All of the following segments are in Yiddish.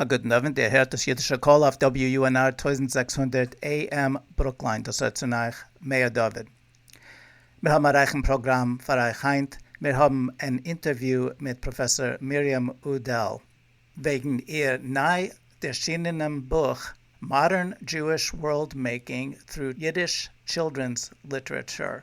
א גוטן אווענט, איר הערט דאס אידישע קול אויף WUNR טויזנט זעקס הונדערט AM ברוקליין, דאס רעדט צון אייך מאיר דוד. מיר האבן א רייכן פראגראם פאר אייך היינט, מיר האבן אן אינטערוויו מיט פראפעסאר מרים אודל, וועגן איר ניי ערשינענעם בוך Modern Jewish World Making through Yiddish Children's Literature.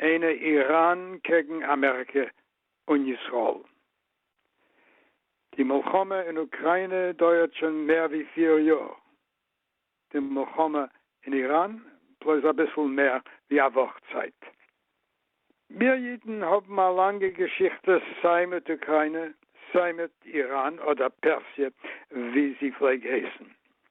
אין איראן קעגן אמעריקע און ישראל. די מלחמה אין אוקריינע דויערט שוין מער ווי פיר יאר, די מלחמה אין איראן בלויז אביסל מער ווי א וואך צייט. מיר אידן האבן א לאנגע געשיכטע סיי מיט אוקריינע סיי מיט איראן אדער פערסיע ווי זי פלעג הייסן.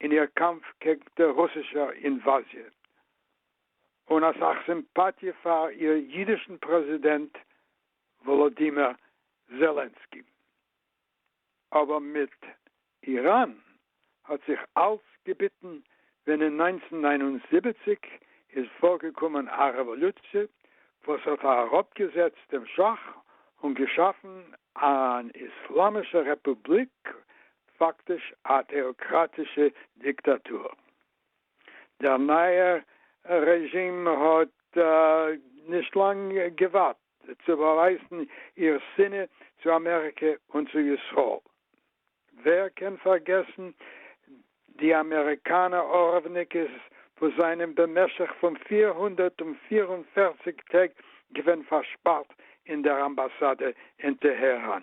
אין איר קאמף קעגן דער רוסישער אינוואזיע, און אסאך סימפאטיע פאר איר אידישן פרעזידענט וואלאדימיר זעלענסקי. אבער מיט איראן האט זיך אלץ געביטן, ווען אין נײַנצן נײַן און זיבעציק איז פארגעקומען א רעוואלוציע וואס האט אראפגעזעצט דעם שאך און געשאפן אן איסלאמישע רעפובליק פאקטיש א טעאקראטישע דיקטאטור. דער נייער רעזשים האט נישט לאנג געווארט צו באווייזן איר שנאה צו אמעריקע און צו ישראל. ווער קען פארגעסן די אמעריקאנע ארווניקעס וואס זענען במשך פון פֿיר הונדערט פֿיר און פֿערציק טעג געווען פארשפארט אין דער אמבאסאדע אין טעהראן.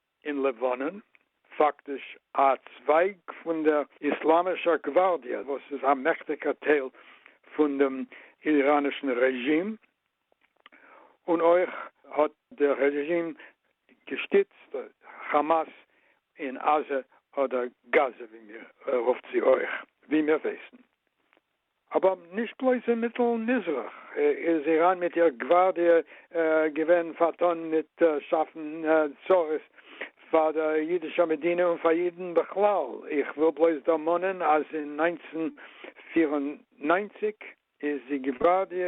אין לבנון, פאקטיש א צווייג פון דער איסלאמישער גווארדיע וואס איז א מעכטיגער טייל פון דעם איראנישן רעזשים, און אויך האט דער רעזשים געשטיצט כאמאס אין עזה אדער גאזע ווי מיר רופט זי אויך ווי מיר ווייסן אבער נישט בלויז אין מיטל מזרח איז איראן מיט איר גווארדיע געווען פארטאן מיט שאפן צרות פאר דער אידישער מדינה און פאר אידן בכלל. איך וויל בלויז דערמאנען אז אין נײַנצן פֿיר און נײַנציק איז די גווארדיע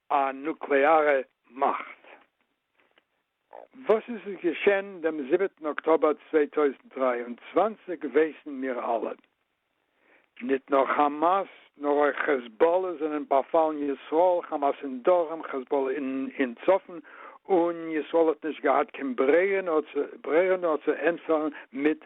א נוקלעארע מאכט. וואס עס איז געשען דעם זיבעטן אקטאבער צוויי טויזנט דרײַ און צוואַנציק ווייסן מיר אלע. ניט נאר כאמאס נאר אויך כעזבאלע זענען באפאלן ישראל, כאמאס אין דרום, כעזבאלע אין צפון, און ישראל האט נישט געהאט קיין ברירה נאר צו ענטפערן מיט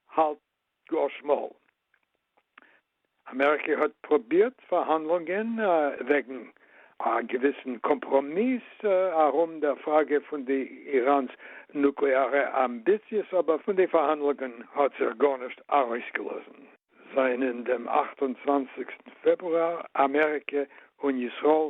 האלט גאר שמאל. אמעריקע האט פרובירט פארהאנדלונגען וועגן א געוויסן קאמפראמיס ארום דער פראגע פון די איראן'ס נוקלעארע אמביציעס אבער פון די פארהאנדלונגען האט זיך גארנישט ארויסגעלאזן. זענען דעם אַכט און צוואַנציק פעברואר אמעריקע און ישראל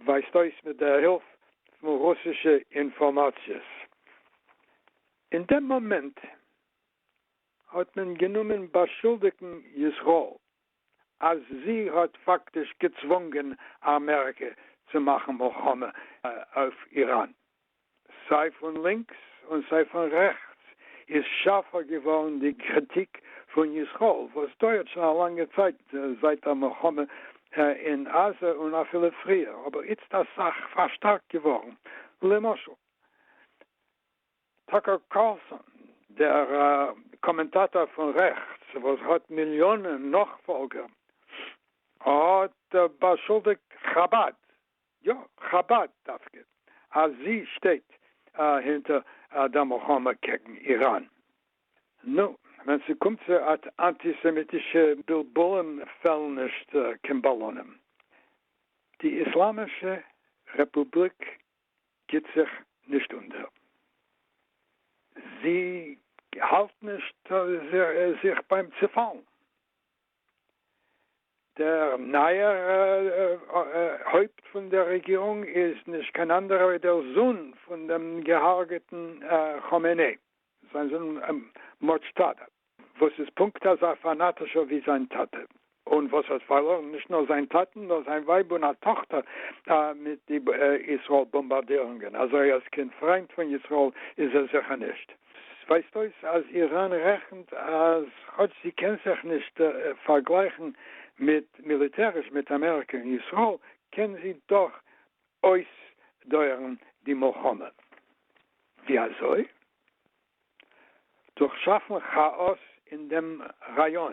ווייזט אויס מיט דער הילף פון רוסישע אינפארמאציעס. אין דעם מאמענט האט מען גענומען באשולדיגן ישראל אז זי האט פאקטיש געצוואונגען אמעריקע צו מאכן מלחמה אויף איראן. סיי פון לינקס און סיי פון רעכטס איז שארפע געווארן די קריטיק פון ישראל וואס דויערט שוין א לאנגע צייט זייט דער מלחמה אין עזה און אפילו פריער אבער איצט אסאך פארשטארקט געווארן למשל טאקער קארלסאן דער קאמענטאטאר פון רעכטס וואס האט מיליאנען נאכפאלגער האט באשולדיגט חבד יא, חבד דווקא אז זי שטייט אהינטער דער מלחמה קעגן איראן. נו, ווען ס'קומט צו אנטיסעמיטישע בילבולים פעלן נישט קיין באלונים. די איסלאמישע רעפובליק גיבט זיך נישט אונטער. זי האלט נישט זיך ביים צופאלן. דער נייער הויפט פון דער רעגירונג איז נישט קיין אנדערער ווי דער זון פון דעם געהארגעטן כאמענעי, זיין זון מודזשטאבא, וואס איז פונקט אזא פאנאטישער ווי זיין טאטע, און וואס האט פארלוירן נישט נאר זיין טאטן, נאר זיין ווייב און א טאכטער מיט די ישראל באמבארדירונגען, אזוי אז קיין פריינד פון ישראל איז ער זיכער נישט. עס ווייזט אויס אז איראן רעכנט אז כאטש זי קען זיך נישט פארגלייכן מיט מיליטעריש מיט אמעריקע און ישראל, קען זי דאך אויסדויערן די מלחמה. ווי אזוי? דורך שאפן כאאס אין דעם ראיאן.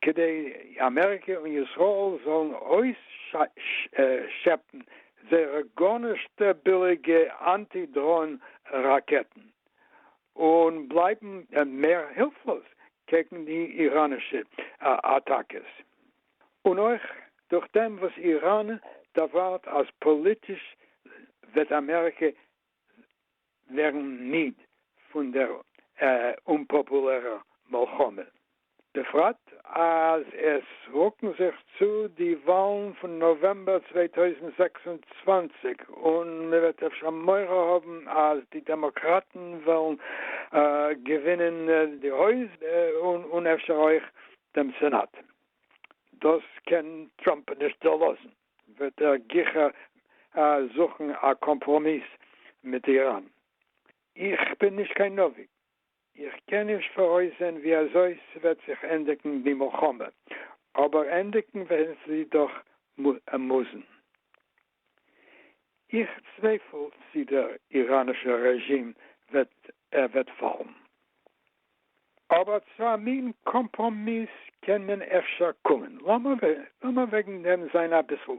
כדי אמעריקע און ישראל זאלן אויסשעפן זייערע גארנישט ביליגע אנטי דראון ראקעטן און בלייבן מער הילפלאז קעגן די איראנישע אטאקעס, און אויך דורכדעם וואס איראן דערווארט אז פאליטיש וועט אמעריקע ווערן מיד פון דער אומפאפולערער מלחמה, בפרט אז עס רוקן זיך צו די וואלן פון נאוועמבער צוויי טויזנט זעקס און צוואַנציק און מען וועט אפשר מורא האבן אז די דעמאקראטן וועלן געווינען די הויז און אפשר אויך דעם סענאט. דאס קען טראמפ נישט דערלאזן. וועט ער גיכער זוכן א קאמפראמיס מיט איראן. איך בין נישט קיין נביא, איך קען נישט פאראויסזען ווי אזוי ס'וועט זיך ענדיגן די מלחמה, אבער ענדיגן וועט זי דאך מוזן. איך צווייפל צי דער איראנישער רעזשים וועט פאלן. אבער צו א מין קאמפראמיס קען מען אפשר קומען. לאמיר וועגן דעם זיין אביסל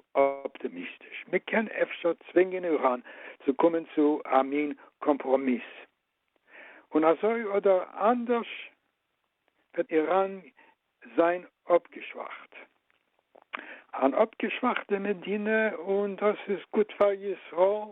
אפטעמיסטיש. מען קען אפשר צווינגען איראן צו קומען צו א מין קאמפראמיס. און אזוי אדער אנדערש וועט איראן זיין אפגעשוואכט. אן אפגעשוואכטע מדינה, און דאס איז גוט פאר ישראל.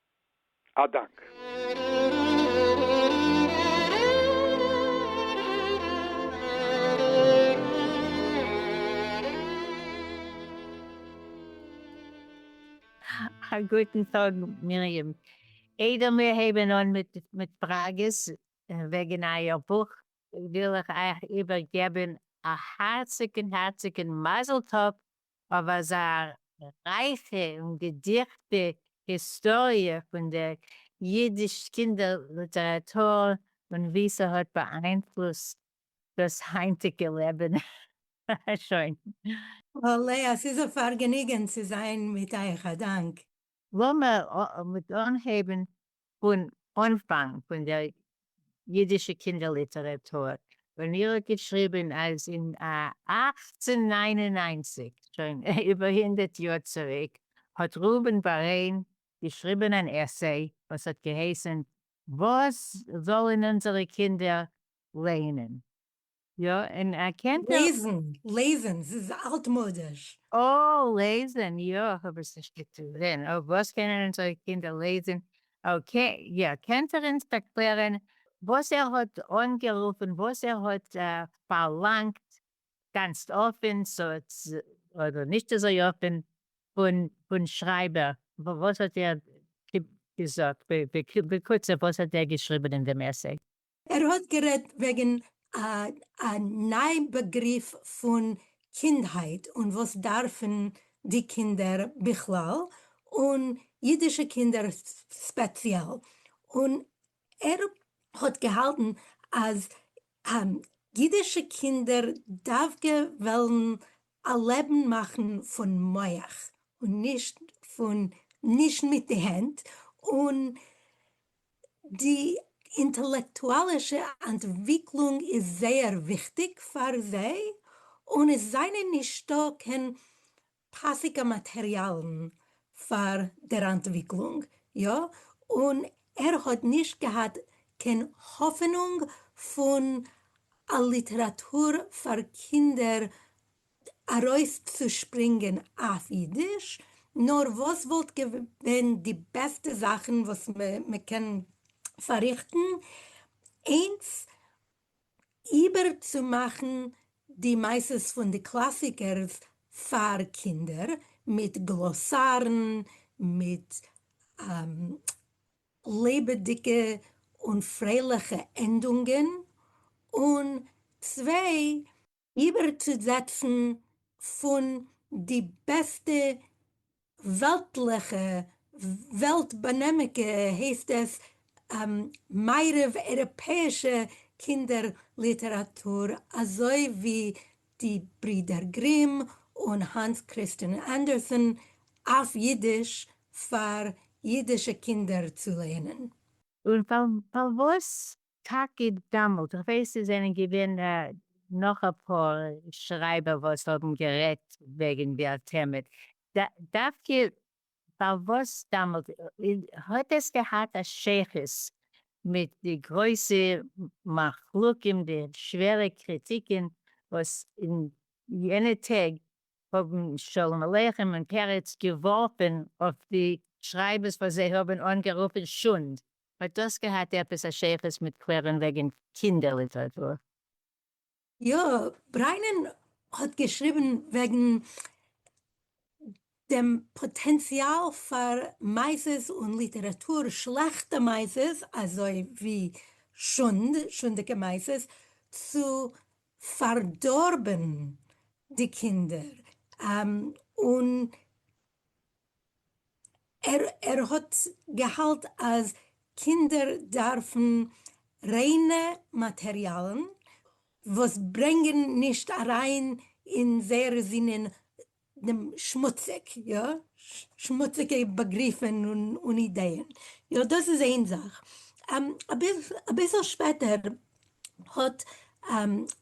א דאנק. א גוטן טאג מרים. איידער מיר הייבן אן מיט פראגעס וועגן אייער בוך, וויל איך אייך איבערגעבן א הארציגן הארציגן מזל טוב אויף אזא רייכע און געדיכטע היסטאריע פון דער אידיש קינדער ליטעראטור און ווי ס'האט באאיינפלוסט דאס היינטיגע לעבן. שוין. אהה לאה, ס'איז א פארגעניגען צו זיין מיט אייך. א דאנק. לאמער מיט אנהייבן פון אנפאנג פון דער אידישע קינדער ליטעראטור, ווען איר האט געשריבן אז אין אַכצן נײַן און נײַנציק, שוין איבער הונדערט יאר צוריק, האט ראובן בארען געשריבן אן עסיי וואס האט געהייסן וואס זאלן אונזערע קינדער לייענען? יא, און ער קען ט. לעזן, לעזן, ס'איז אלטמאדיש. אה, לעזן, יא, כ'האב עס נישט געטזען. אויף וואס קענען אונזערע קינדער לעזן? אקעי, יא, קענט ער אונז ערקלערען וואס ער האט אנגערופען, וואס ער האט פארלאנגט, גאנצט אפען, אדער נישט אזוי אפען, פון שרייבער, וואס האט ער געזאגט, בקוצר וואס האט ער געשריבען אין דעם עסיי? ער האט גערעדט וועגן א ניי באגריף פון קינדהייט און וואס דארפן די קינדער בכלל און אידישע קינדער ספעציעל, און ער האט געהאלטן אז אידישע קינדער דווקא וועלן א לעבן מאכן פון מח און נישט פון נישט מיט די הענט, און די אינטעלעקטואלישע אנטוויקלונג איז זייער וויכטיג פאר זיי, אן עס זענען נישטא קיין פאסיגע מאטריאלן פאר דער אנטוויקלונג, יא, און ער האט נישט געהאט קיין האפענונג פון א ליטעראטור פאר קינדער ארויפצושפרינגען אויף אידיש, נאר וואס וואלט געווען די בעסטע זאכן וואס מ'קען פארריכטן, איינס איבערצומאכן די מעשות פון די קלאסיקערס פאר קינדער, מיט גלאסארן, מיט לעבעדיגע און פרייליכע ענדונגען, און צוויי, איבערצוזעצן פון די בעסטע וועלטליכע, וועלט-באנעמיגע הייסט עס, מערב אייראפעאישע קינדער ליטעראטור אזוי ווי די ברידער גרים און האנס קריסטיאן אנדערסען אויף אידיש פאר אידישע קינדער צו לערנען. און פארוואס טאקע דאמאלט, איך ווייס עס זענען געווען נאך אפאר שרייבער וואס האבן גערעדט וועגן דער טעמע, דווקא פארוואס דאמאלט, האט עס געהאט א שייכות מיט די גרויסע מחלוקין, די שווערע קריטיקען וואס אין יענע טעג האבן שלום עליכם און פרץ געווארפען אויף די שרייבערס וואס זיי האבן אנגערופען שונד? האט דאס געהאט עפעס א שייכות מיט קלערען וועגען קינדער ליטעראטור? יא, בריינען האט געשריבען וועגען דעם פאטענציאל פאר מעשות און ליטעראטור, שלעכטע מעשות אזוי ווי שונד, שונדיגע מעשות, צו פארדארבען די קינדער, און. ער האט געהאלט אז קינדער דארפן ריינע מאטעריאלן וואס ברענגען נישט אריין אין זייערע זינען דעם שמוציג, יא, שמוציגע באגריפען און אידייען, יא דאס איז איין זאך. אביסל שפעטער האט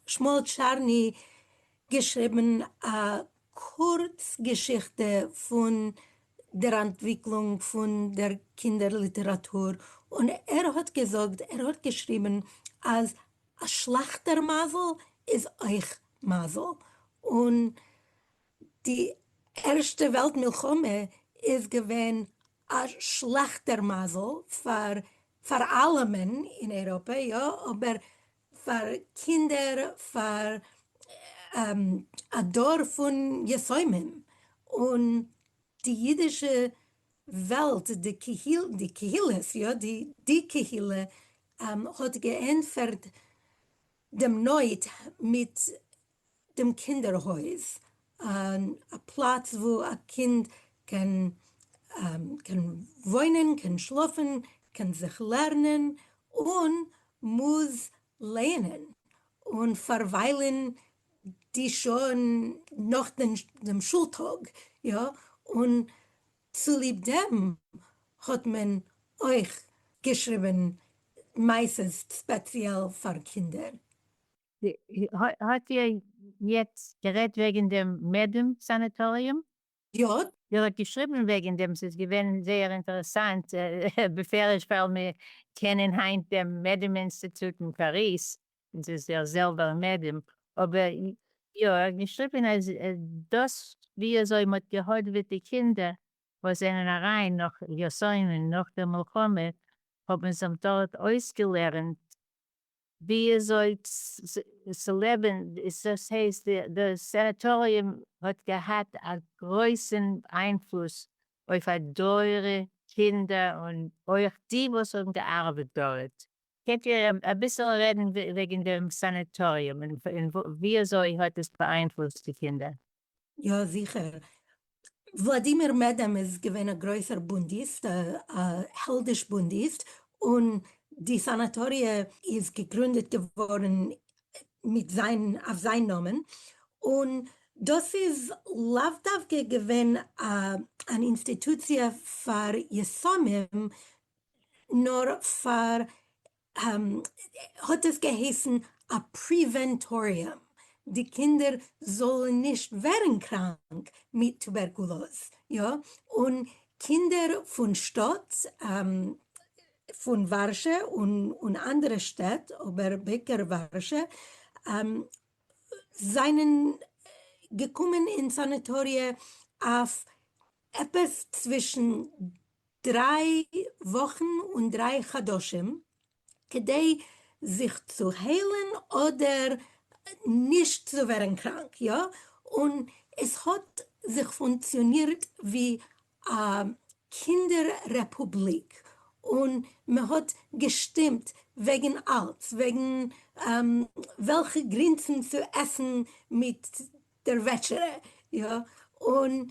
שמואל טשארני געשריבן א קורץ געשיכטע פון דער אנטוויקלונג פון דער קינדער ליטעראטור, און ער האט געזאגט, ער האט געשריבן אז א שלעכטער מזל איז אויך מזל, און די ערשטע וועלט מלחמה איז געווען א שלעכטער מזל פאר פאר אלעמען אין אייראפע, יא, אבער פאר קינדער פאר א דור פון יתומים און די אידישע וועלט די קהילות יא די די קהילה האט געענטפערט דעם נויט מיט דעם קינדער הויז, און א פלאץ וואו א קינד קען וואוינען, קען שלאפן, קען זיך לערנען, און מוז לערנען און פארוויילן די שעה'ן נאך דעם שול טאג, יא, און צוליב דעם האט מען אויך געשריבן מעשות ספעציעל פאר קינדער. האט איר יעצט גערעדט וועגן דעם מעדעם סאנעטאריום? יא. איר האט געשריבן וועגן דעם, ס'איז געווען זייער אינטערעסאנט, בפרש ווייל מיר קענען היינט דעם מעדעם אינסטיטוט אין פאריז, און ס'איז דער זעלבער מעדעם, אבער יא, ער האט געשריבן אז דאס וויאזוי מ'האט געהאדעוועט די קינדער וואס זענען אריין נאך יאסוינען נאך דער מלחמה, האבן זיך דארט אויסגעלערנט וויאזוי צו לעבן, דאס הייסט די סענעטאריום האט געהאט א גרויסן איינפלוס אויף א דור קינדער און אויך די וואס האבן געארבעט דארט. קענט איר אביסל רעדן וועגן דעם סענעטאריום און וויאזוי האט עס באאיינפלוסט די קינדער? יא זיכער. וולאדימיר מעדעם איז געווען א גרויסער בונדיסט, א העלדיש בונדיסט, און די סאנאטאריע איז געגרונדעט געווארן מיט זיין, אויף זיין נאמען, און דאס איז לאו דווקא געווען אן אינסטיטוציע פאר יסומים, נאר פאר האט עס געהייסן א פריווענטאריום די קינדער זאלן נישט ווערן קראנק מיט טובערקולאז, יא און קינדער פון שטאט פון ווארשע און אנדערע שטעט אבער בעיקר ווארשע זענען געקומען אין סאניטאריע אויף עפעס צווישן דריי וואכן און דריי חדשים כדי זיך צו היילן אדער נישט צו ווערן קראנק, יא? און עס האט זיך פונקציאנירט ווי א קינדער רעפובליק און מען האט געשטימט וועגן אלץ, וועגן וועלכע גרינסן צו עסן מיט דער וועטשערע, יא? און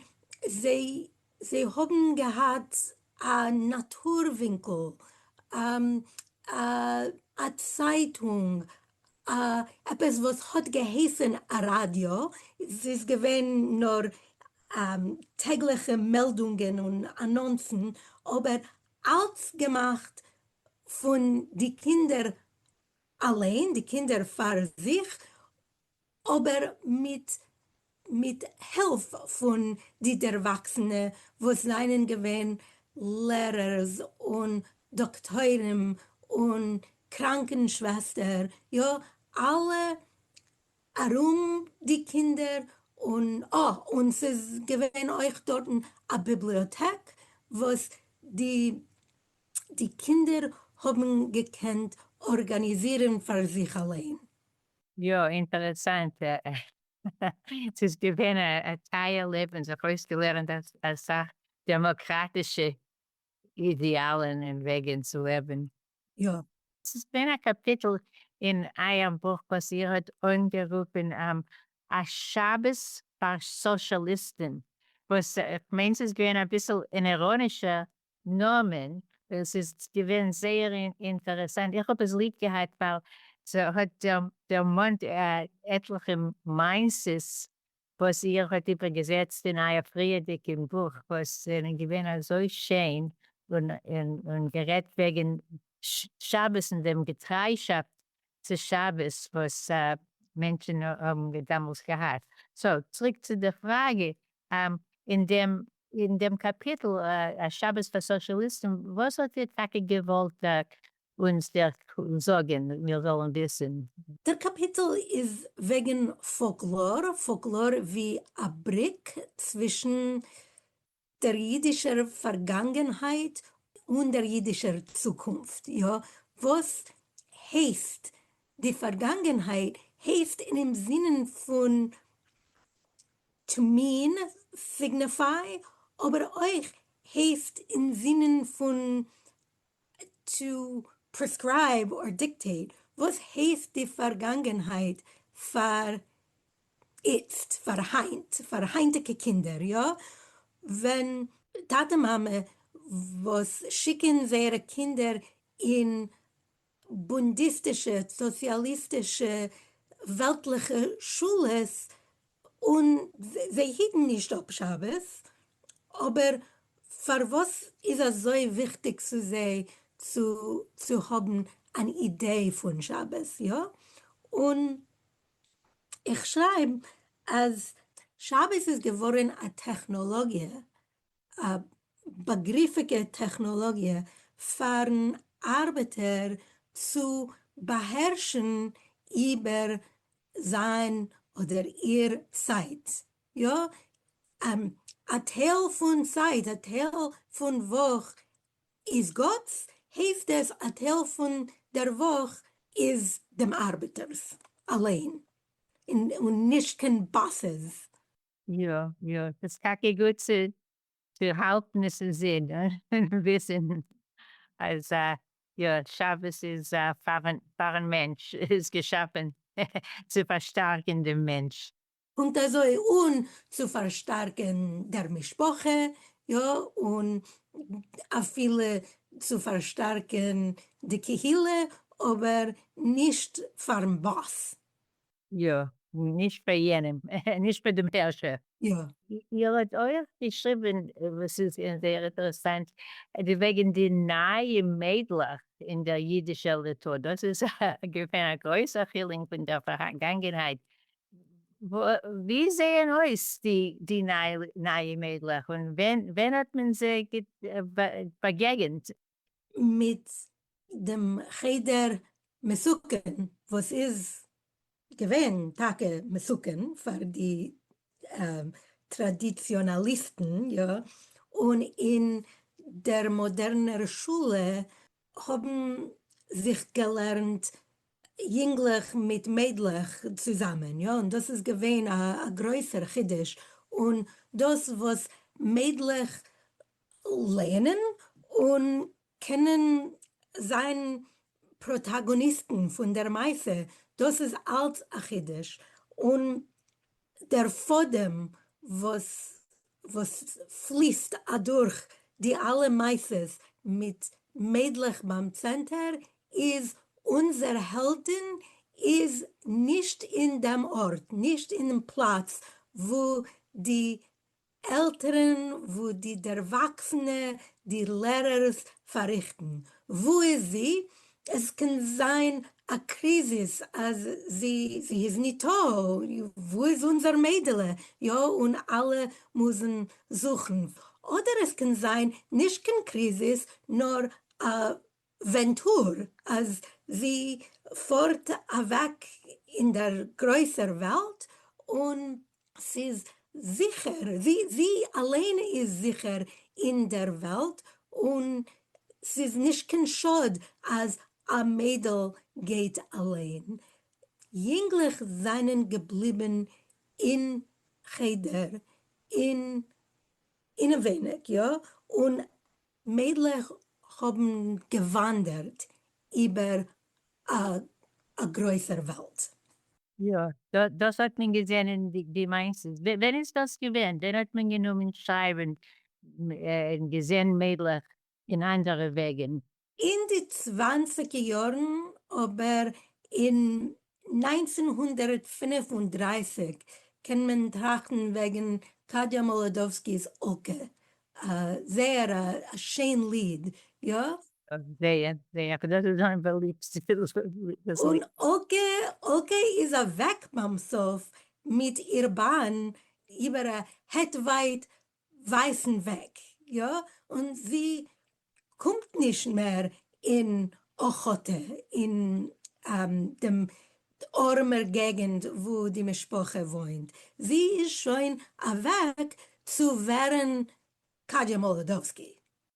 זיי זיי האבן געהאט א נאטור ווינקל, א צייטונג, עפעס וואס האט געהייסן א ראדיא, ס'איז געווען נאר טעגליכע מעלדונגען און אנאנסן, אבער אלץ געמאכט פון די קינדער אליין, די קינדער פאר זיך, אבער מיט מיט הילף פון די דערוואקסענע וואס זענען געווען לערערס און דאקטוירים און קראנקען שוועסטער, יא אלע ארום די קינדער, און אה און ס'איז געווען אויך דארטן א ביבליאטעק וואס די די קינדער האבן געקענט ארגאניזירן פאר זיך אליין. יא, אינטערעסאנט, ס'איז געווען א טייער לעבן, זיך אויסגעלערנט אסאך דעמאקראטישע אידעאלן און וועגן צו לעבן. יא. ס'איז געווען א קאפיטל אין אייער בוך וואס איר האט אנגערופן א שבת פאר סאשעליסטן, וואס כ'מיין ס'איז געווען אביסל אין איראנישער נאמען, עס איז געווען זייער אינטערעסאנט, איך האב עס ליב געהאט ווייל ס'האט דערמאנט עטליכע מעשות וואס איר האט איבערגעזעצט אין אייער פריערדיגע בוך וואס זענען געווען אזוי שיין און גערעדט וועגן שבת און דעם געטריישאפט צו שבת וואס מענטשן האבן דעמאלס געהאט. סאו צוריק צו די פראגע, אין דעם אין דעם קאפיטל א שבת פאר סאושליסטן, וואס האט איר טאקע געוואלט אונז דער זאגען מיר זאלן וויסען? דער קאפיטל איז וועגען פאלקלאר, פאלקלאר ווי א בריק צווישן דער יידישער פארגאנגענהייט און דער יידישער צוקונפט, יא, וואס הייסט די פארגאנגענהייט הייסט אינעם זינען פון טמין, סיגנעפיי, אבער אויך הייסט אין זינען פון טו פרעסקרייב אר דיקטעיט וואס הייסט די פארגאנגענהייט פאר איצט פאר היינט פאר היינטיגע קינדער יא ווען טאטע מאמע וואס שיקען זייערע קינדער אין בונדיסטישע סאציאליסטישע וועלטליכע שולעס און זיי היטן נישט אפ שבת, אבער פארוואס איז אזוי וויכטיג צו זיי צו צו האבן אן אידעי פון שבת, יא? און איך שרייב אז שבת איז געווארן א טעכנאלאגיע, א באגריפיגע טעכנאלאגיע פארן ארבעטער צו באהערשן איבער זיין אדער איר צייט, יא, א טייל פון צייט, א טייל פון וואך איז גאט'ס, העפט עס א טייל פון דער וואך איז דעם ארבעטער'ס אליין, און נישט קיין באסעס. יא יא, ס'איז טאקע גוט צו צו האלטן עס אין זין און וויסן אז יא, שבת איז פארן מענטש, איז געשאפן צו פארשטארקן דעם מענטש. קומט אזוי אן צו פארשטארקן דער משפחה, יא, און אפילו צו פארשטארקן די קהילה, אבער נישט פארן באס, יא, נישט פאר יענעם, נישט פאר דעם הערשער. יא. איר האט אויך געשריבען, וואס איז זייער איטערעסאנט, די וועגען די נייע מיידלעך אין דער אידישע ליטא, דאס איז געווען א גרויסע חילונג פון דער פארגאנגענהייט, ווי זעען אויס די נייע מיידלעך און ווען האט מען זיי באגעגענט? מיט דעם חדר מסוכן וואס איז געווען טאקע מסוכן פאר די טראדיציאנאליסטן, יא, און אין דער מאדערנער שולע האבן זיך געלערנט יונגלעך מיט מיידלעך צוזאמען, יא, און דאס איז געווען א גרויסער חידוש, און דאס וואס מיידלעך לערנען און קענען זיין פראטאגאניסטן פון דער מעשה, דאס איז אלץ א חידוש, און דער פאדעם וואס וואס פליסט אדורך די אלע מעשות מיט מיידלעך ביים צענטער איז אונזער העלדין איז נישט אין דעם ארט, נישט אינעם פלאץ וואו די עלטערן וואו די דערוואקסענע די לערערס פאריכטן, וואו איז זי? עס קען זיין א קריזיס אז זי זי איז ניטא, וואו איז אונזער מיידעלע יא און אלע מוזן זוכן, אדער עס קען זיין נישט קיין קריזיס נאר א ווענטור אז זי פארט אוועק אין דער גרויסער וועלט און ס'איז זיכער, זי אליין איז זיכער אין דער וועלט און ס'איז נישט קיין שאד אז א מיידל גייט אליין, יונגלעך זענען געבליבן אין חדר אינעווייניג, יא, און מיידלעך האבן געוואנדערט איבער א גרויסער וועלט. יא, דאס האט מען געזען אין די מיינסט עס? ווען איז דאס געווען? ווען האט מען גענומען שרייבען און געזען מיידלעך אין אנדערע וועגען? אין די צוואנציגע יארן אבער אין נײַנצן הונדערט פֿינף און דרײַסיק קען מען טראכטן וועגן טאדיא מאלאדאווסקי'ס אקע, א זייער א שיין ליד, יא? זייער זייער, דאס איז זיין באליבסטע ליד. און אקע אקע איז אוועק ביים סוף מיט איר באן איבער א העט ווייט ווייסן וועג, יא, און זי קומט נישט מער אין אוחותה, אין דעם ארעמער געגענט וואו די משפחה וואוינט, זי איז שוין אוועק צו ווערן קאדיא מאלאדאווסקי.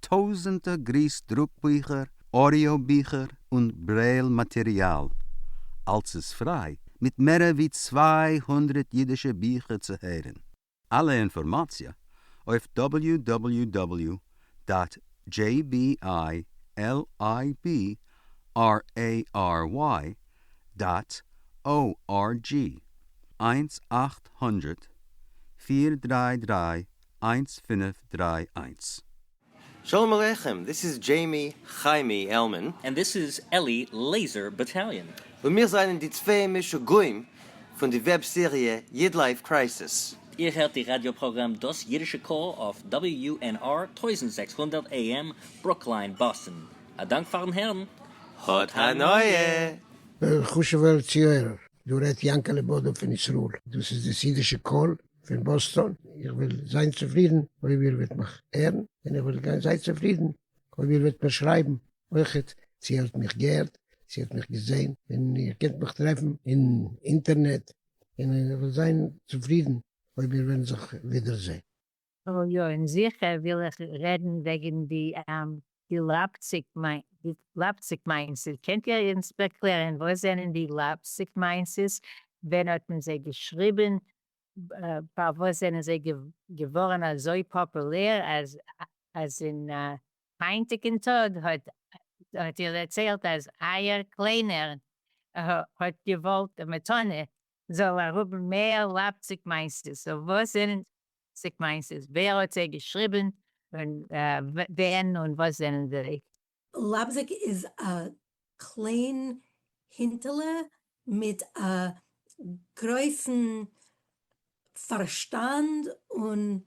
טויזענטער גריס דרוק ביכער, אודיאו ביכער און ברעיל מאטעריאל, אלס איז פריי, מיט מערער ווי צוויי הונדרעט אידישע ביכער צו הערען. אלע אינפארמאציע אויף דאבעליו דאבעליו דאבעליו דאט דזשעי בי איי על איי בי אר עי אר וויי דאט או אר דזשי, איינס אַכט הונדערט פֿיר דרײַ דרײַ איינס פינף דריי איינס. שלום עליכם, דיס איז דזשעימי חיימי עלמען. און דיס איז אלי לעיזער באטאליאן. און מיר זענען די צוויי משוגעים פון די וועב סעריע איד לייף קרייסיס. איר הערט די ראדיא פראגראם דאס אידישע קול אויף WUNR טויזנט זעקס הונדערט AM ברוקלין באסטן. א דאנק פארן הערן. האט הנאה! וועלכע חשוב'ער ציויערער דא רעדט יענקעלע בודא פון ישראל? דאס איז דאס אידישע קול פון באסטאן, איך וועל זיין צופרידן אויב איר וועט מיך הערן, און איך וועל גיין זייער צופרידן אויב איר וועט מיר שרייבן אויכעט צו איר האט מיך געהערט, צו איר האט מיך געזען, און איר קענט מיך טרעפן אין אינטערנעט, און איך וועל זיין צופרידן אויב מיר וועלן זיך ווידערזען. יא, און זיכער וויל איך רעדן וועגן די די לייפציק מיינסעס, קענט איר אונז ערקלערן וואס זענען די לייפציק מיינסעס, ווען האט מען זיי געשריבן, פארוואס זענען זיי געווארן אזוי פאפולער, אז אין היינטיגן טאג האט איר דערציילט אז אייער קליינער האט געוואלט מתנה זאל ער האבן מער לאפציג מיינסטו? סאו וואס זענען די לאפציג מיינסטו? ווער האט זיי געשריבן? און ווען און וואס זענען זיי? לאפזיג איז א קליין הינטעלע מיט א גרויסן פארשטאנד און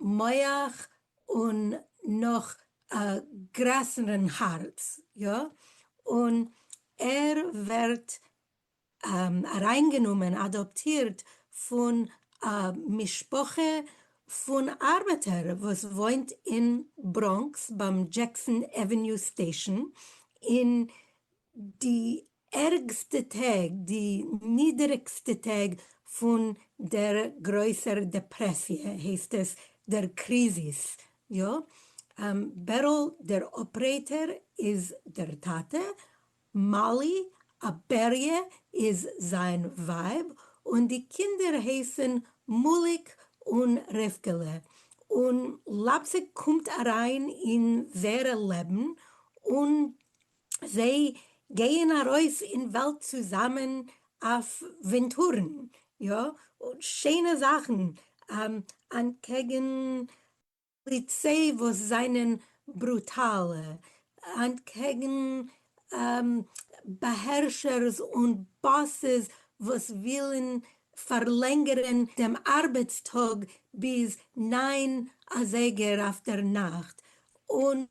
מח און נאך א גרעסערן הארץ, יא, און ער ווערט אריינגענומען, אדאפטירט, פון א משפחה פון ארבעטער וואס וואוינט אין בראנקס ביים דזשעקסאן עוועניו סטעישאן, אין די ערגסטע טעג, די נידעריגסטע טעג פון דער גרויסער דעפרעסיע הייסט עס, דער קריזיס, יא, בערל דער אפרעיטער איז דער טאטע, מאלי, א בעריה איז זיין ווייב, און די קינדער הייסן מאליק און רבקה'לע, און לייפציג קומט אריין אין זייערע לעבן, און זיי גייען ארויס אין וועלט צוזאמען אויף ווינטורן, יא, און שיינע זאכן, אנטקעגן פאליציי וואס זענען ברוטאל אנטקעגן באהערשערס און באסעס וואס ווילן פארלענגערן דעם ארבעטס טאג ביז נײַן אזייגער אויפדערנאכט, און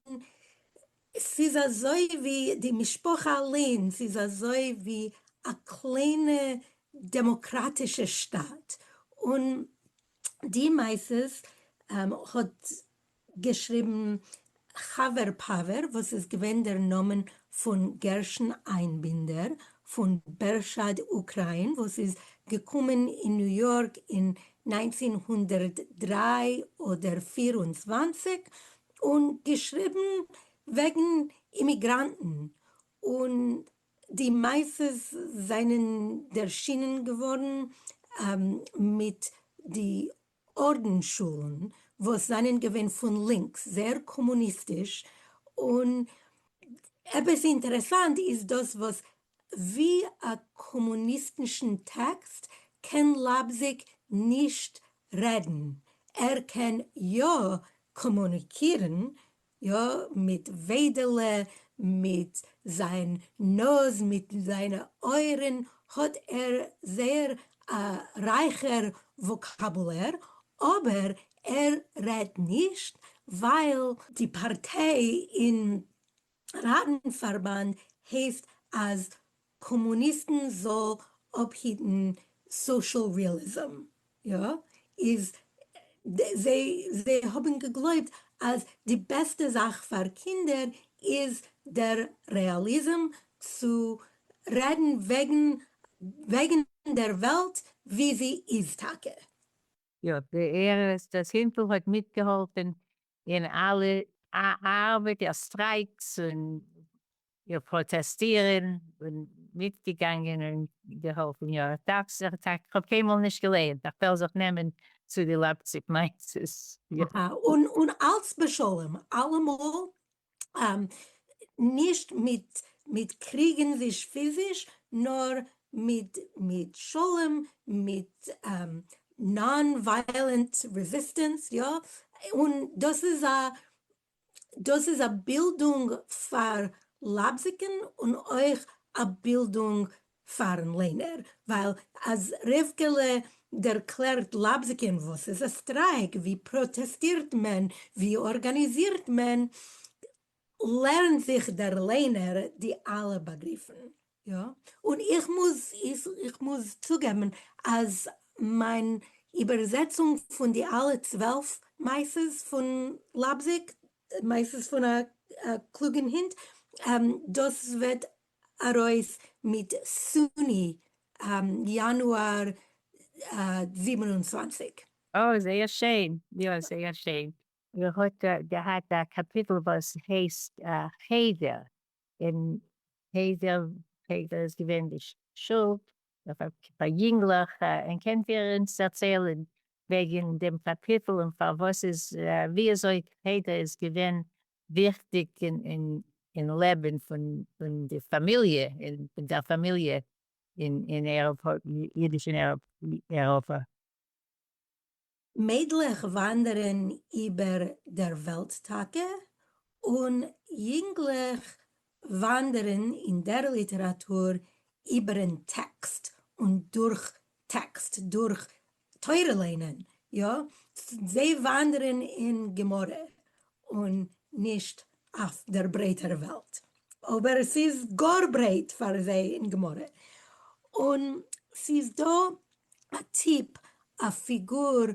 ס'איז אזוי ווי די משפחה אליינס איז אזוי ווי א קליינע דעמאקראטישע שטאט, און. די מעשות האט געשריבן, חבר פאווער וואס איז געווען דער נאמען פון גרשון איינבינדער פון בערשאד אוקריין וואס איז געקומען אין ניו יארק אין נײַנצן הונדערט דרײַ אדער פֿיר און צוואַנציק און געשריבן וועגן אימיגראנטן און די מעשות זענען ערשינען געווארן מיט די ארדענשולן וואס זענען געווען פון לינקס, זייער קאמוניסטיש, און עפעס אינטערעסאנט איז דאס וואס ווי א קאמוניסטישן טעקסט קען לייפזיג נישט רעדן, ער קען יא קאמוניקירן יא, מיט וועדעלע, מיט זיין נאז, מיט זיינע אויערען האט ער זייער א רייכער וואקאבולער, אבער ער רעדט נישט ווייל. די פארטיי אין ראטן פארבאנד הייסט אז קאמוניסטן זאל אפהיטן סאשעל ריעליזם, יא איז זיי האבן געגלויבט אז די בעסטע זאך פאר קינדער איז דער רעאליזם צו רעדן וועגן וועגן דער וועלט ווי זי איז טאקע. יא ער איז דאס הינטל האט מיטגעהאלפן אין אלע ארבעטער סטרייקס און איר פראטעסטיר און בין מיטגעגאנגען און געהאלפן יא איך דארף זיך איך האב קיינמאל נישט געלייענט איך וועל זיך נעמען צו די לייפציג מיינסעס יא. און און אלץ בשלום אלעמאל נישט מיט מיט קריגן וויש פיזיש נאר מיט מיט שלום מיט נאן ווייעלענט רעזיסטענס יא און דאס איז א דאס איז א בילדונג פאר לבזקן און אויך א בילדונג פארן ליינער, ווייל אז רבקה'לע דערקלערט לבזקן וואס איז א סטרייק, ווי פראטעסטירט מען, ווי ארגאניזירט מען, לערנט זיך דער ליינער די אלע באגריפן. יא, און איך מוז איך מוז צוגעבן אז מיין איבערזעצונג פון די אלע צוועלף מעשה'ס פון לייפזיג, מעשה'ס פון א קלוגן הינט, דאס וועט ארויס מיט סוני יאנואר זיבן און צוואַנציק. אוי זייער שיין, יא זייער שיין. איר האט געהאט א קאפיטל וואס הייסט חדר אין חדר, חדר איז געווען די שול פאר יונגלעך, און קענט איר אונז דערציילען וועגען דעם קאפיטל און פארוואס איז ווי אזוי חדר איז געווען וויכטיג אין לעבען פון די פאמיליע און פון דער פאמיליע אין אידיש אין אירופה. מיידלעך וואנדערן איבער דער וועלט טאקע, און יונגלעך וואנדערן אין דער ליטעראטור איבער'ן טעקסט און דורך טעקסט, דורך תורה לערנען, יא, זיי וואנדערן אין גמרא, און נישט אויף דער ברייטער וועלט, אבער ס'איז גאר ברייט פאר זיי אין גמרא, און ס'איז דא א טיפ, א פיגור,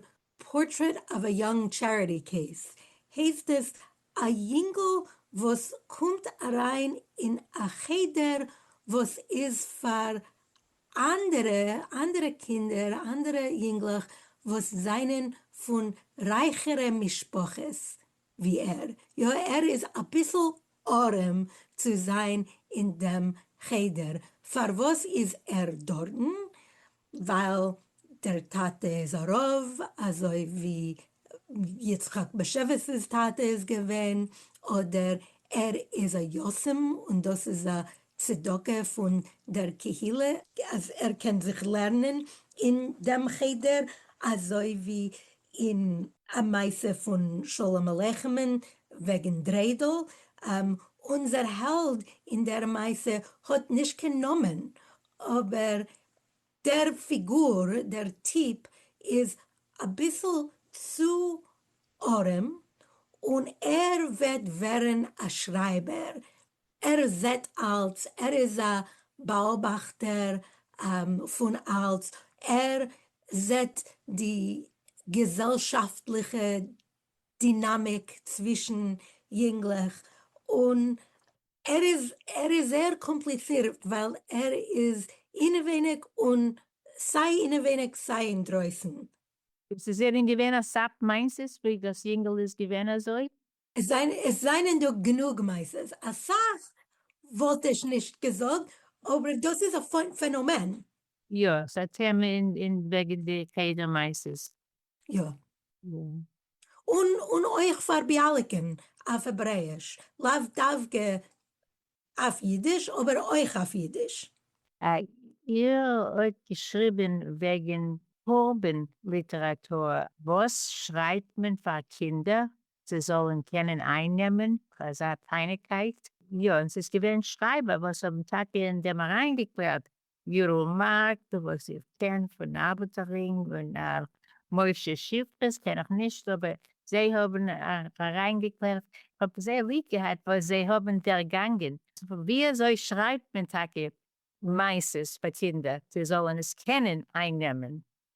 Portrait of a Young Charity Case, הייסט עס, א יונגל וואס קומט אריין אין א חדר וואס איז פאר אנדערע אנדערע קינדער אנדערע יונגלעך וואס זענען פון רייכערע משפחות ווי ער, יא ער איז אביסל ארעם צו זיין אין דעם חדר, פארוואס איז ער דארטן? ווייל דער טאטע איז א רב, אזוי ווי יצחק באשעוויס'ס טאטע איז געווען, אדער ער איז א יתום און דאס איז א צדקה פון דער קהילה, אז ער קען זיך לערנען אין דעם חדר, אזוי ווי אין א מעשה פון שלום עליכם'ן וועגן דריידל, אונזער העלד אין דער מעשה האט נישט קיין נאמען, אבער דער פיגור, דער טיפ, איז אביסל צו ארעם, און ער וועט ווערן א שרייבער, ער זעט אלץ, ער איז א באאבאכטער פון אלץ, ער זעט די געזעלשאפטליכע דינאמיק צווישן יונגלעך, און ער איז ער איז זייער קאמפליצירט ווייל ער איז אינעווייניג און סיי אינעווייניג סיי אינדרויסן. עס איז זענען געווען אסאך מעשות ווי דאס יונגעל איז געווען אזוי. עס זענען דא גענוג מעשות, אסאך וואלט איך נישט געזאגט, אבער דאס איז א פענאמען. יא, ס'איז א טעמע אין וועגן די חדר מעשות. יא. און און אויך פאר ביאליקען אויף העברעיש, לאו דווקא אויף אידיש אבער אויך אויף אידיש. איר האט געשריבען וועגען פארבען ליטעראטור, וואס שרייבט מען פאר קינדער זיי זאלען קענען אייננעמען אזא פיינעקייט? יא, און ס'איז געווען שרייבער וואס האבן טאקע אין דעם אריינגעקלערט ירום מארק, וואס איך קען פון אבטערינג און הרב משה שיפרס קען איך נישט אבער זיי האבן אריינגעקלערט, איך האב זייער ליב געהאט וואס זיי האבן דערגאנגען, ווי אזוי שרייבט מען טאקע מעשות פאר קינדער זיי זאלן עס קענען אייננעמען,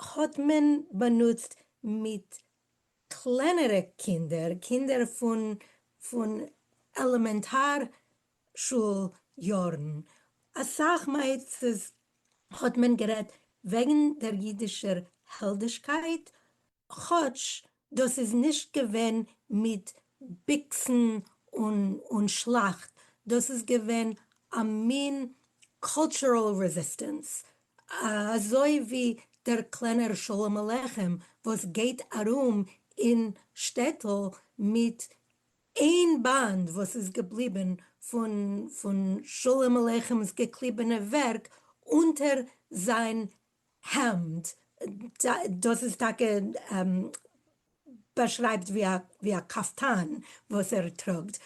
האט מען באנוצט מיט קלענערע קינדער, קינדער פון פון עלעמענטאר שול יארן, אסאך מעצות האט מען גערעדט וועגן דער אידישער העלדישקייט, כאטש דאס איז נישט געווען מיט ביקסן און שלאכט, דאס איז געווען א מין קולטשורעל רעזיסטענס, אזוי ווי דער קלענער שלום עליכם וואס גייט ארום אין שטעטל מיט איין באנד וואס איז געבליבן פון שלום עליכם'ס געקליבענע ווערק אונטער זיין העמד, דאס איז טאקע באשרייבט ווי א קאפטאן וואס ער טראגט,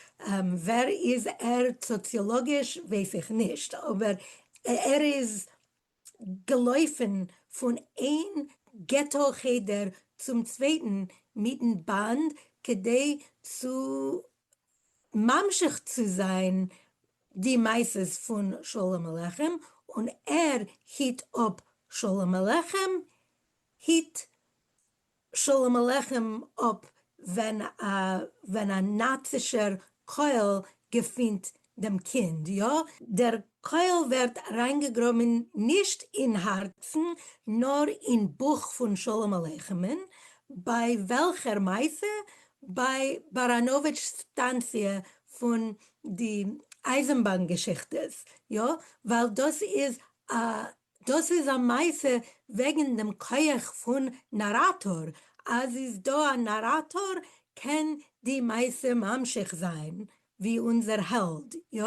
ווער איז ער סאציאלאגיש ווייס איך נישט, אבער ער איז געלויפן פון איין געטא חדר צום צווייטן מיטן באנד כדי צו ממשיך צו זיין די מעשות פון שלום עליכם און ער היט אפ שלום עליכם, היט שלום עליכם אפ ווען א ווען א נאצישער קויל געפינט דעם קינד, יא, דער קויל ווערט אריינגעגראבן נישט אין הארצן נאר אין בויך פון שלום עליכם'ן, ביי וועלכער מעשה? ביי באראנאוויטש סטאנציע פון די אייזענבאן געשיכטעס, יא? ווייל דאס איז א דאס איז א מעשה וועגן דעם כח פון נאראטאר, אז איז דא א נאראטאר קען די מעשה ממשיך זיין ווי אונזער העלד, יא?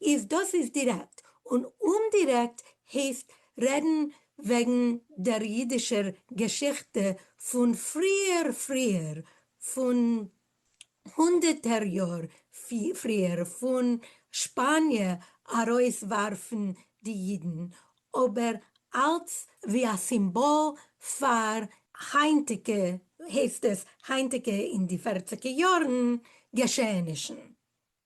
איז דאס איז דירעקט, און אומדירעקט הייסט רעדן וועגן דער אידישער געשיכטע פון פריער פריער פון הונדערטער יאר פריער פון שפאניע ארויס ווארפן די אידן, אבער אלץ ווי א סימבאל פאר. היינטיגע, הייסט עס, היינטיגע אין די פערציגע יארן, געשעענישן.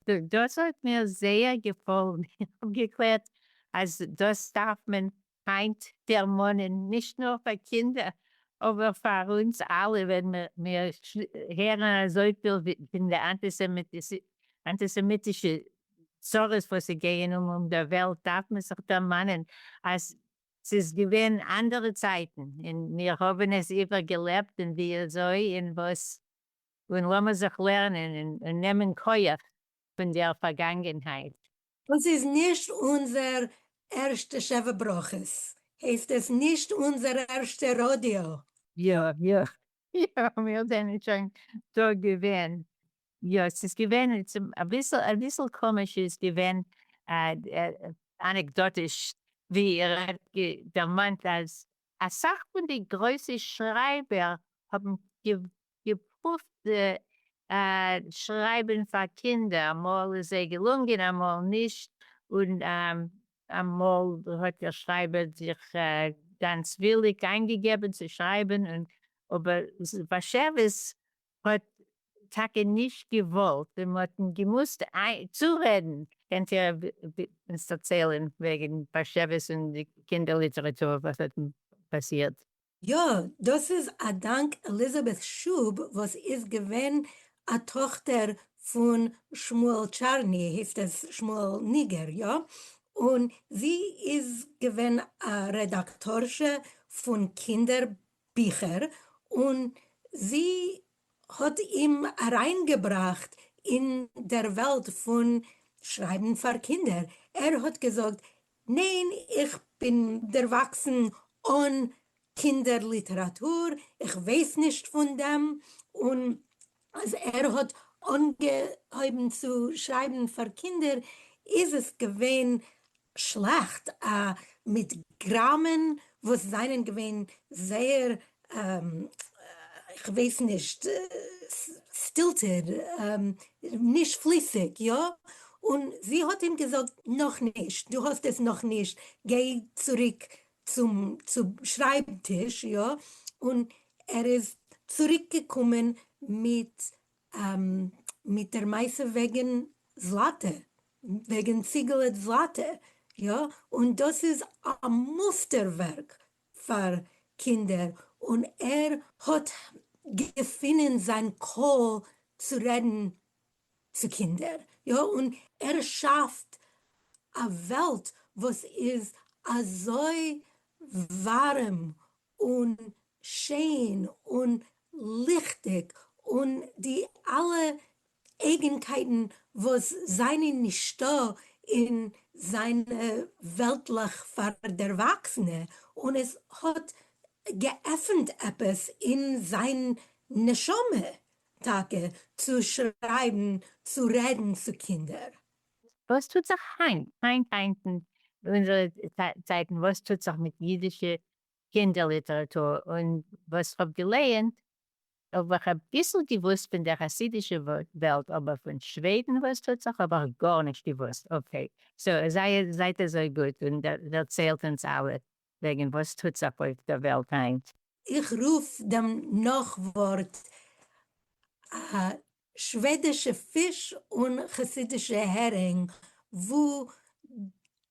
דאס האט מיר זייער געפאלן, איך האב געקלערט אז דאס דארף מען היינט דערמאנען, נישט נאר פאר קינדער אבער פאר אונז אלע ווען מיר הערן אזויפיל פון די אנטיסעמיטישע צרות וואס ס'גייען אן אום דער וועלט דארף מען זיך דערמאנען אז ס'איז געווען אנדערע צייטן און מיר האבן עס איבערגעלעבט און וויאזוי און וואס און לאמיר זיך לערנען און נעמען כח פון דער פארגאנגענהייט. דאס איז נישט אונזער ערשטע שבע ברכות, הייסט עס נישט אונזער ערשטע ראדיא. יא יא יא מיר זענען שוין דא געווען. יא ס'איז געווען אביסל אביסל קאמיש איז געווען אנעקדאטיש ווי איר האט דערמאנט אז אסאך פון די גרויסע שרייבער האבן געפרואווט שרייבען פאר קינדער, אמאל איז זיי געלונגען אמאל נישט, און אמאל האט דער שרייבער זיך גאנץ וויליג איינגעגעבען צו שרייבען, אבער באשעוויס האט טאקע נישט געוואלט און מ'האט אים געמוזט צורעדען. קענט איר אונז דערציילען וועגען באשעוויס און די קינדער ליטעראטור וואס האט פאסירט? יא, דאס איז א דאנק עליזאבעט שוב וואס איז געווען א טאכטער פון שמואל טשארני, הייסט עס שמואל ניגער, יא? און זי איז געווען א רעדאקטארשע פון קינדער ביכער, און זי האט אים אריינגעבראכט אין דער וועלט פון שרייבן פאר קינדער, ער האט געזאגט ניין איך בין דערוואקסן אן קינדער ליטעראטור, איך ווייס נישט פון דעם, און אז ער האט אנגעהויבן צו שרייבן פאר קינדער איז עס געווען שלעכט, א מיט גראמען וואס זענען געווען זייער איך ווייס נישט, סטילטעד, נישט פליסיג, יא? און זי האט אים געזאגט, נאך נישט, דו האסט עס נאך נישט, גיי צוריק צום שרייב טיש, יא? און ער איז צוריק געקומען מיט מיט דער מעשה וועגען זלאטע, וועגען ציגעלע זלאטע, יא? און דאס איז א מוסטער ווערק פאר קינדער און ער האט געפינען זיין קול צו רעדן צו קינדער, יא און ער שאפט א וועלט וואס איז אזוי ווארעם און שיין און ליכטיג און די אלע אייגנקייטן וואס זענען נישטא אין זיינע וועלטלעך פאר דערוואקסענע, און עס האט געעפנט עפעס אין זיין נשמה טאקע צו שרייבן צו רעדן צו קינדער. וואס טוט זיך היינט היינט היינט אין אונזערע צייטן וואס טוט זיך מיט אידישע קינדער ליטעראטור, און וואס כ'האב געלייענט אויב איך האב ביסל געוואוסט פון דער חסידישע וועלט אבער פון שוועדן וואס טוט זיך האב איך גארנישט געוואוסט, אקעי סאו זייער זייט אזוי גוט און דערציילט אונז אלע וועגן וואס טוט זיך אויף דער וועלט היינט. איך רוף דעם נאכווארט א שוועדישע פיש און חסידישע הערינג וואו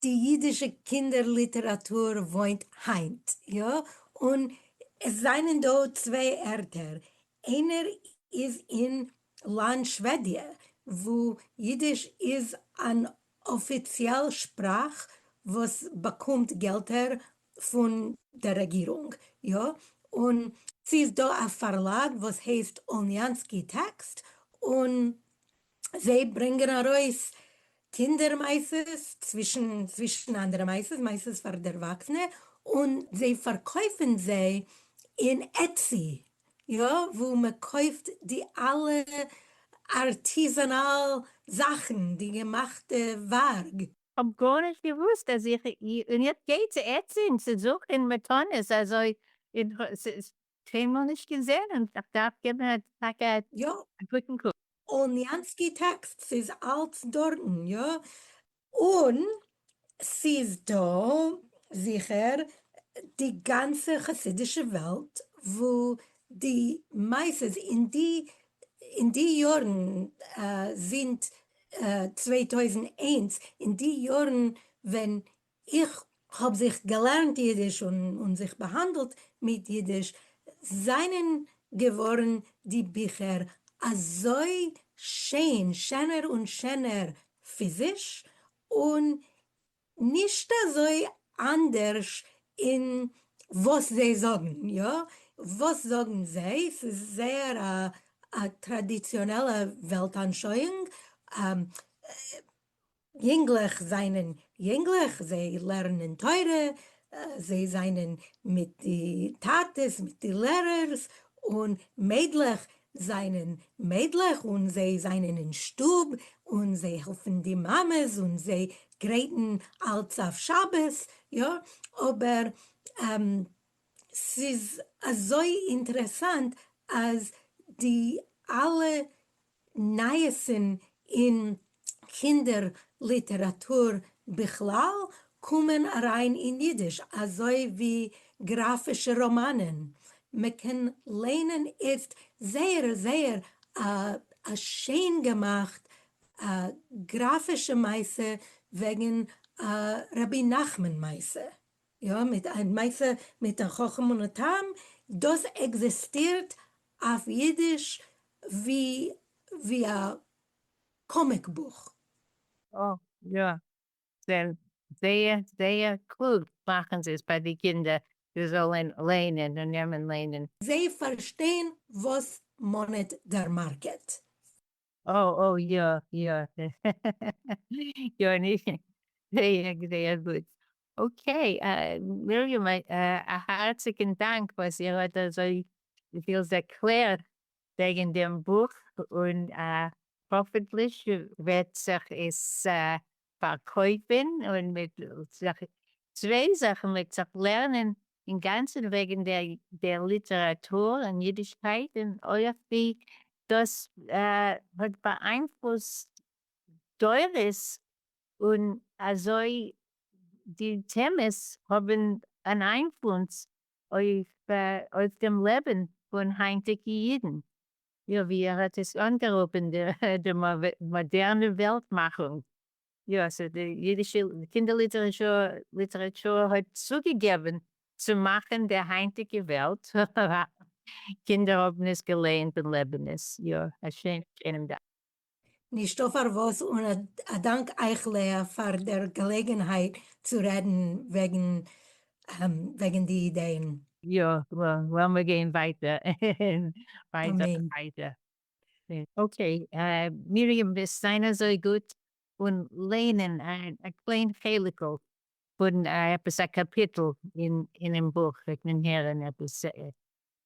די אידישע קינדער ליטעראטור וואוינט היינט, יא? און עס זענען דא צוויי ערטער, איינער איז אין לאנד שוועדיע וואו אידיש איז אן אפיציעל שפראך וואס באקומט געלטער פון דער רעגירונג, יא, און ס'איז דא א פארלאג וואס הייסט אוליאנסקי טעקסט, און זיי ברענגען ארויס קינדער מעשות, צווישן צווישן אנדערע מעשות, מעשות פאר דערוואקסענע, און זיי פארקויפן זיי אין עטסי, יא, וואו מען קויפט די אלע ארטיזאנאל זאכן, די געמאכטע ווארג. כ'האב גארנישט געוואוסט אז איך און איך גיי צו עטצין צו זוכען מתנות אזוי און ס'איז קיינמאל נישט געזען און כ'דארף געבען א טאקע א יא. גוטען קוק. אוניאנסקי טעקסט ס'איז אלץ דארטן יא און ס'איז דא זיכער די גאנצע חסידישע וועלט וואו די מעשות אין די אין די יארן זינט צוויי טויזנט איינס, אין די יארן ווען איך האב זיך געלערנט אידיש און זיך באהאנדלט מיט אידיש, זענען געווארן די ביכער אזוי שיין, שענער און שענער פיזיש, און נישט אזוי אנדערש אין וואס זיי זאגן, יא? וואס זאגן זיי? ס'איז זייער א טראדיציאנעלע וועלטאנשויאונג, יונגלעך זענען יונגלעך, זיי לערנען תורה, זיי זענען מיט די טאטעס, מיט די לערערס, און מיידלעך זענען מיידלעך און זיי זענען אין שטוב און זיי העלפן די מאמעס און זיי גרייטן אלץ אויף שבת, יא, אבער ס'איז אזוי אינטערעסאנט אז די אלע נייעסן אין קינדער ליטעראטור בכלל קומען אריין אין אידיש אזוי ווי גראפישע ראמאנען, מען קען ליינען איצט זייער זייער א שיין געמאכט גראפישע מעשה וועגן א רבי נחמן מעשה, יא א מעשה מיט א חכם און א תם, דאס עקזעסטירט אויף אידיש ווי א קאמיק בוך. אה יא, זענען זייער זייער קלוג מאכן זיי עס פאר די קינדער זיי זאלען ליינען און נעמען ליינען. זיי פארשטיין וואס מאנעט דער מארקעט. אה אה יא יא יא נישט זייער זייער גוט אקעי מרים א הארציגען דאנק וואס איר האט אזוי פיל ערקלערט וועגן דעם בוך און האפענטליך וועט זיך עס פארקויפען און מיט צוויי זאכן וועט זיך לערנען אינגאנצען וועגן דער ליטעראטור און אידישקייט און אויך ווי דאס האט באאיינפלוסט דורות און אזוי די טעמעס האבן אן איינפלונס אויף דעם לעבן פון היינטיגע אידן. יא, ווי ער האט עס אנגערופן די מאדערנע וועלט מאכונג. יא, סאו די אידישע קינדער ליטעראטור האט צוגעגעבן צו מאכן די היינטיגע וועלט, קינדער האבן עס געלייענט און לעבן עס, יא, א שיינע קענען דאס. נישטא פארוואס און א דאנק אייך לאה פאר דער געלעגענהייט צו רעדן וועגן די אידעען. יא, לאמיר גיין ווייטער און ווייטער און ווייטער. אקעי, מרים וועסט זיין אזוי גוט און ליינען א קליין חלק'ל פון עפעס א קאפיטל אינעם בוך, וועט מען הערן עפעס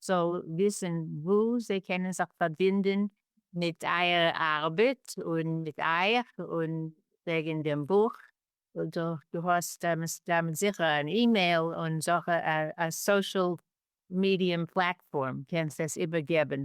זאל וויסן וואו זיי קענען זיך פארבינדן מיט אייער ארבעט און מיט אייך און וועגן דעם בוך. דו האסט מסתם זיכער אן אימעיל און זאך א סאשעל מידיום פלאטפארם, קענסט עס איבערגעבן?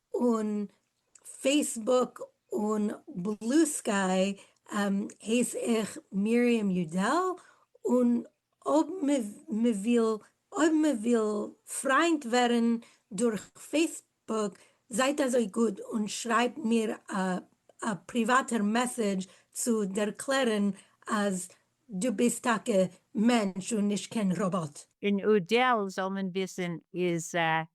און פעיסבוק און בלו סקיי הייס איך מרים יודל, און אויב מ'וויל פריינט ווערן דורך פעיסבוק זייט אזוי גוט און שרייבט מיר א פריוואטער מעסעדזש צו ערקלערן אז דו ביסט טאקע מענטש און נישט קיין ראבאט. אין יודל זאל מען וויסן איז